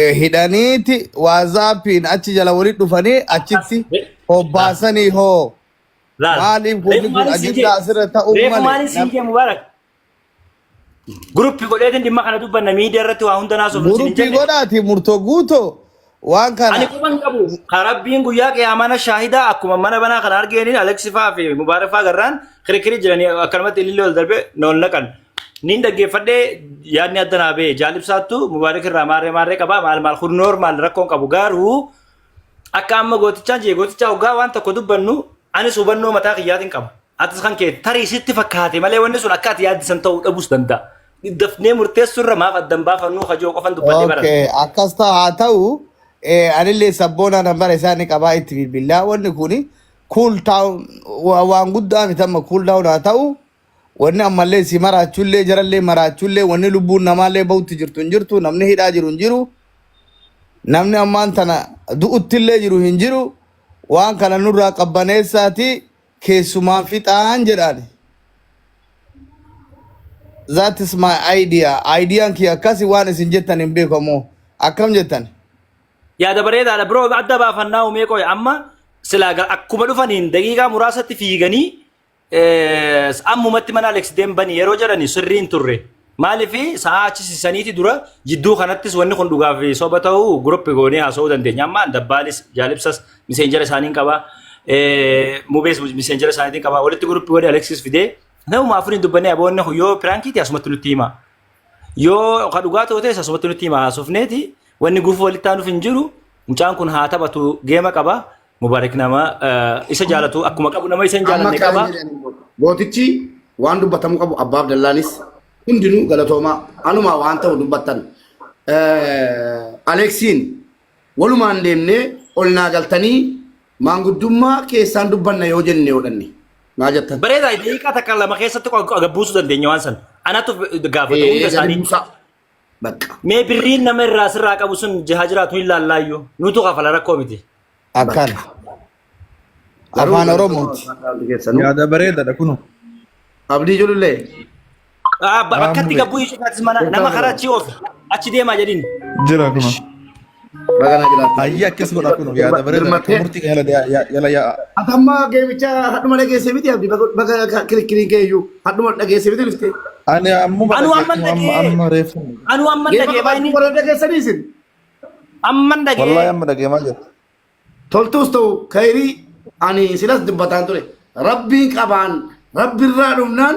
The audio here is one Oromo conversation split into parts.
eh, hidhaniiti waazaappiin achi jala walitti dhufanii achitti Akkas. Re- hobbaasanii hoo Laal. maaliif Reefu wanni kun maaliif siin ajandaa kee? asirra ta'uu Reefu malee maaliif siin nam- kee Mubaarak? Guruppi godheetiin dhimma kana dubbanna miidiyaa irratti waa hunda naasofnu siin hin guruppii jenne. godhaati murtoo guutoo waan Ani kana quban qabu. Ka Rabbiin guyyaa qiyaamana shaahidaa akkuma mana banaa kana argeeniin Aleksifaa fi Mubaarifaa garraan kirikiri jiranii akkanumatti ilillee ol darbee na ol naqan. Niin dhaggeeffadhee yaadni adda naa ba'e jaalibsaattu mubaarik irraa maarree maarree qabaa maal maal kun noormaal rakkoon qabu garuu akka amma gootichaan jee gootichaa hoggaa waan tokko dubbannu anis hubannoo mataa kiyyaatiin qaba. Atis kan kee tarii sitti fakkaate malee wanni sun akka ati yaaddisan ta'uu dhabus danda'a. Dafnee murteessuu irra maaf addan baafannuu hajoo qofan dubbadhee barata. Okay, akkas ta'a haa ta'u eh, anillee sabboonaa nan bara isaa ni qabaa itti bilbilaa wanni kun cool down wa- waan guddaa miti amma cool down haa ta'u Wanni ammallee si maraachuullee jarallee maraachuullee wanni lubbuun namaallee bahutti jirtu hin jirtu namni hidhaa jiru hin jiru namni ammaan tana du'uttillee jiru hin jiru waan kana nurraa qabbaneessaati keessumaan fixaan jedhaan that is my idea ideyaan kiyya akkasi waan isin jettan hin beekamoo akkam jettan yaada bareedaadha biroo adda baafannaa umee qoy amma silaa ga- akkuma dhufaniin daqiiqaa muraasatti fiiganii Eh, ammumatti mana Alex deembanii yeroo jedhani sirrii hin turre. Maaliif sa'aa achi sisaniiti dura jidduu kanattis wanni kun dhugaa fi soba ta'uu guruppi goonee haasa'uu dandeenya. Amma dabbaalis jaalibsas miseenjera isaaniin qaba. Eh, Mubees miseenjera isaaniitiin qaba. Walitti guruppi godhee Alexis fidee namuma afuriin dubbannee aboonni kun yoo piraankiiti asumatti nutti hima. Yoo ka dhugaa ta'u ta'es asumatti nutti hima haasofneeti wanni gufuu walitti aanuuf hin jiru. Mucaan kun haa taphatu geema qaba. Mubaarik nama isa jaalatu akkuma qabu nama isa hin Amma jaalanne qaba. kaanii jedhanii booda. Gootichi waan dubbatamuu qabu abbaa Abdallaanis hundinuu galatoomaa anumaa waan ta'u dubbattan. Eh, Aleeksiin walumaan deemnee ol naa galtanii maanguddummaa keessaan dubbanna yoo jenne yoo dhanne naa jettan. Bareedaa daqiiqaa takka lama keessatti gabbuusuu dandeenya waan san. Anatu gaafata hunda isaanii. Bakka. Mee birriin nama irraa sirraa qabu sun haa jiraatu hin laallaayyuu. Nutu kafala rakkoo miti. Akkana. Garuu Afaan Oromooti. galatoomaa keessanuu. Yaada bareedaadha kunoo. Abdii Julullee. Ah, ba- Bakkatti gabbuu isuu taatis mana nama karaa achi oofi. Achi deemaa jedhin. Jira kunoo. Baga na jiraattan. Ayya akkas godha kun yaada bareeda akka murtii kan yala yaa- yala yaa'a. Ati amma geemicha hadhuma dhageesse miti abdi baga kirikiriin kee iyyuu hadhuma dhageesse miti dhufte. Ani ammuma Anu amman dhaggeeffatu amma dhagee. amma reeffu. Anu amman Geema dhagee qabachuu baay'inni. warra dhageessanii isin. Amman Wallahi dhagee. amma dhageemaa jira. Toltuus ta'u kayrii ani silas dubbataan ture. Rabbiin qabaan rabbirraa dhumnaan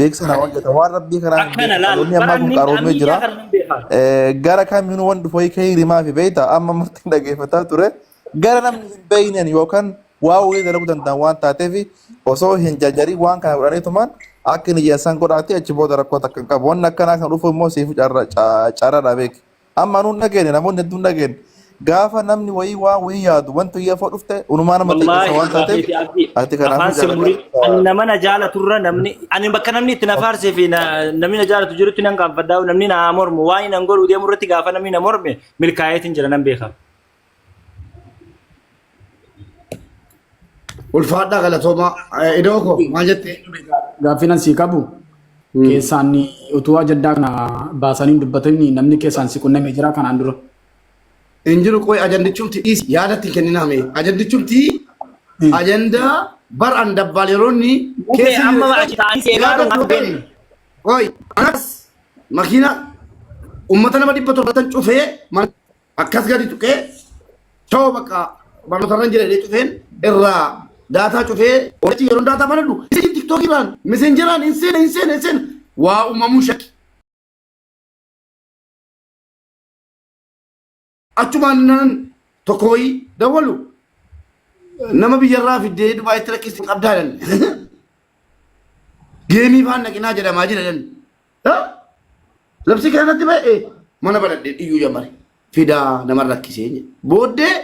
beeksisa namaa hojjeta waan rabbii karaa hin akkana beeku laal dhaloonni ammaa kun baranni qaroomee ammiidiyaa jira kana hin beekaa Eh, gara kamiin wan dhufu wayii ka'ii rimaa fi beeyta amma murtiin dhageeffataa ture gara namni hin beeynen yookaan waa wayii dalaguu danda'an waan taateef osoo hin jajjarii waan kana godhanii tumaan akka inni jedhan san godhaati achi booda rakkoo takka hin qabu wanni akkanaa kan dhufu immoo siif carra carra dha beeki. Amma nuun dhageenya namoonni hedduun dhageenya. Gaafa namni wayii waan wayii yaadu wanti wayii afoo dhufte unumaa nama xiqqeessa Wallaahi waan dhugaa taateef keeti abdii. ati kanaafuu Afaan sin murin. Ani jaalladhaa. nama na jaalatu irra namni ani bakka namni itti na faarsee fi na- namni na jaalatu jirutti nan gaanfadhaa namni na haa mormu waan hin angoluu deemu irratti gaafa namni na morme milkaa'eetiin jira nan beekama. Ulfaadhaa galatoomaa. Eh, Idoo koo maal jettee? Gaaffiin asii qabu keessaan utuu ajaddaa kana baasanii hin dubbatin namni keessaan si qunnamee jira kanaan dura. Hin jiru qoy ajandichumti dhiisi yaada itti hin kenninaa mee. Ajandichumti ajandaa bar an dabbaal yeroonni Mukee amma achi taa'anii si eegaa jiru maaf beekne? Qoy anas makiina uummata nama dhibba torbatan cufee mana akkas gadi tuqee choo bakka barnoota irra jira jedhee cufeen irraa daataa cufee hojii yeroo daataa banadhu isin tiktookiraan meseenjeraan hin seena hin seena hin seena waa uumamuu shakki. Achumaan nan tokko wayii dawwalu nama biyyarraa fiddee dubaayitti rakkisni qabdaa jedhan. Geemii faan dhaqinaa jedhamaa jira jedhan. Labsii kanatti ba'e mana baladhee dhiyyuu jamare fidaa nama rakkisee jedhe. Booddee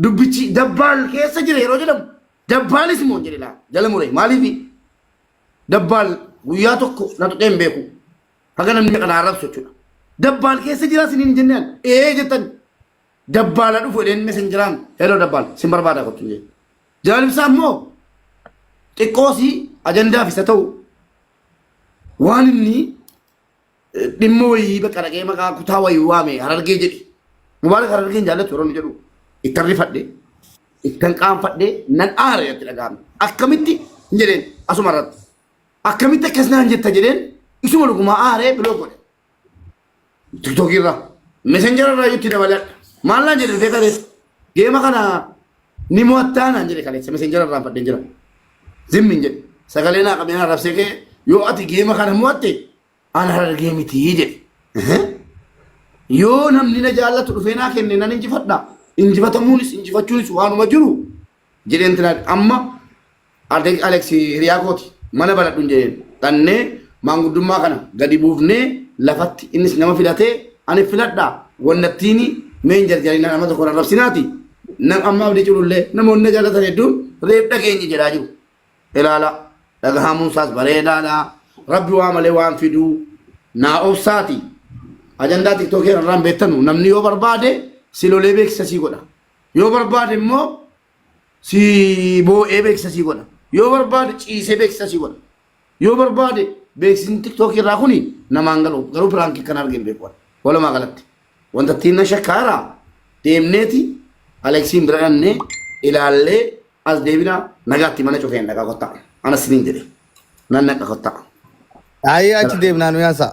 dubbichi dabbaal keessa jira yeroo jedhamu dabbaalis immoo jedhe laa jala muree maaliif dabbaal guyyaa tokko na tuqee hin beeku haga namni meeqa naa arrabsu jechuudha. Dabbaal keessa jira isiniin hin jennaan ee jettan dabbaala dhufu jedheen mesenjeraan heloo dabbaal sin barbaada kottu jedhe. Jaalibsaa immoo xiqqoosii ajandaaf isa ta'u waan inni dhimma wayii bakka dhaqee maqaa kutaa wayii waame harargee jedhe mubaarak harargee hin jaallatu yeroo inni jedhu ittan rifadhe ittan qaanfadhe nan aare itti dhaga'ame akkamitti hin jedheen asuma irratti akkamitti akkas naan jetta jedheen isuma dhugumaa aaree biloo godhe tiktookii irraa messenger irraa itti dabalee maal naan jedhe dhufee kaleessa geema kana ni mo'attaa naan jedhe kaleessa messenger irraa fadheen jira zimmin jedhe sagalee naa qabee naa rabsee kee yoo ati geema kana mo'atte ana harargee mitii jedhe yoo namni na jaallatu dhufee naa kenne nan injifadha injifatamuunis injifachuunis waanuma jiru jedheen tilaan amma Arteex Alex hiriyaa kooti mana banadhun jedheen dhannee maanguddummaa kana gadi buufnee lafatti innis nama filatee ani filadha wannattiini mee hin jarjarinaa nama tokko rarrabsinaati nam amma abdii culullee namoonni na jaalatan hedduun reef dhageenye jedhaa jiru ilaala dhagahamuun isaas bareedaadha rabbi waa malee waan fiduu naa obsaati ajandaa tiktookii irraan beektanu namni yoo barbaade silolee beeksisa sii godha Yoo barbaade immoo si boo'ee beeksisa si godha. Yoo barbaade ciisee beeksisa si godha. Yoo barbaade beeksisni tiktookii irraa kuni namaan galu garuu piraankii kan argeen beeku ani. Walumaa galatti wanta ittiin na shakkaara deemneeti Aleeksiin bira dhannee ilaallee as deebina nagaatti mana cufeen dhaqa kottaa. Anas siniin jedhe nan naqa kottaa. Ayi achi deemnaan mi'aasaa.